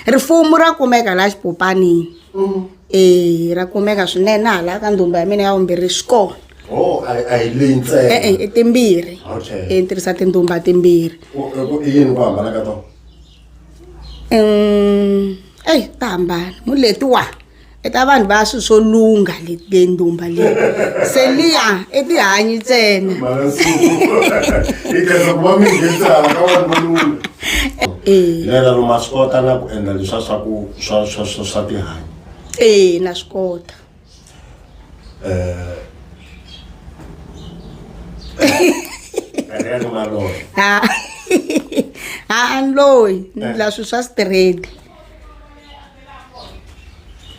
rifumu ra kumeka laha xipopanini mm. e ra kumeka swinene hala ka ndhumba ya mina ya vumbirhi swi kona Oh, a hi leyi ntsena e-e i timbirhi hi e, tirhisa tindhumba timbirhi i yini ku hambana ka tona eyi ta hambana muletiwa Eka vanhu va swi swo lungha le ndumba leyi se liya i tihanyi ntsena lera ro ma swi kota na ku endla leswa swa ku swa swa swa swa tihanyi ee na swi kota ha-a ni loyi ni la swi swa straight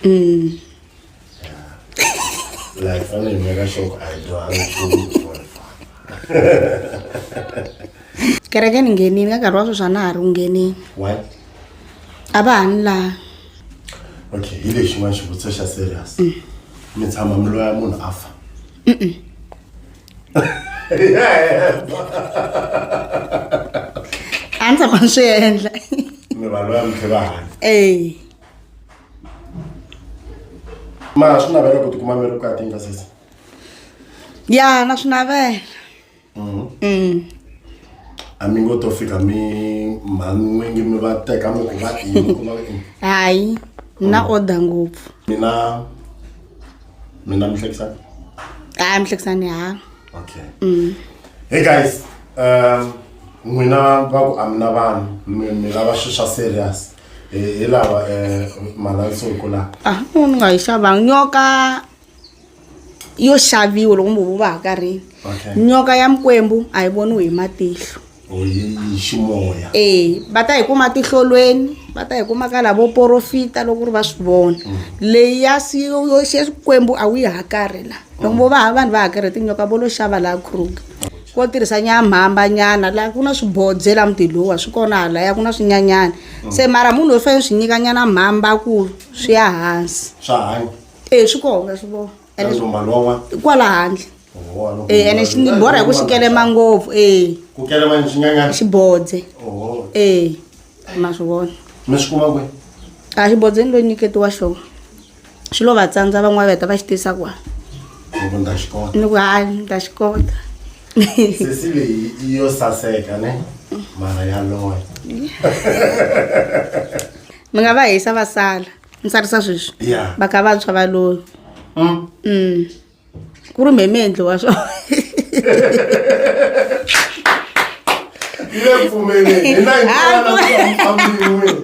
Mm. like fa ne nyaka shop a ndo a kereke ni ngenini ka nkarhi wa sweswi a na ha ri ku ngenini a va ha ni laha okay hi lexi n'wana xivutiso xa serious mm. mi tshama mi loya munhu a fa a ndzi tshama ni swi endla mi vanhu va mitlhe va hanya e ma swi navela ku tikuma mi ri vukati nga sesi ya na swi navela Mm. a mi ngo to fika mi mhan'wingi mi va teka mi ku va ini ku va ini hayi na order ngopfu mina mina mi hlekisani hayi mi hlekisani ha okay mm. hey guys um n'wina va ku a mi na vanhu mi lava swilo swa serious hi lava um malansuku laha a ah, ni nga yi xavanga nyoka yo xaviwa loko mi vo va ha karhini nyoka ya mikwembu a yi voniwi hi matihlo ximoya e va ta hi kuma tihlolweni va ta hi kuma ka lavo porofita loko ri va swi vona leyi ya xikwembu a wu yi hakari la loko vo va vanhu va hakere tinyoka vo lo xava laha kruger vo tirhisa nyamhamba nyana laha ku na swibodze la mutilowa swi kona hala ya ku na swinyanyana se mara munhu loyi fanele swi nyika nyana mhamba ku swi ya hansi swa hanya e swi kona swi vona Ene- Leswo mali wa n'wana. kwala handle Oho, a no Eh, ene xi ni borha hi ku xi kelema ngopfu e Ku kelema ni xinyanyana. xi bodze Oho. e ma swi vona Mi swi kuma kwihi? a xi bodzeni lo nyiketiwa xona xi lo va tsandza van'wana va heta va xi tisa kwa Loko ni ta xi kota. ni ku hayi ni ta xi kota Sesi leyi i yo saseka ne. Mara ya loya. mi nga va hisa va sala ni tsarisa sweswi Yeah. va kha va tshwa va loyi Mm. Mm. ku ri mheme endliwa swo Ile pfumeleni. Hi na hi Ah, ku- kona ku ambiwile.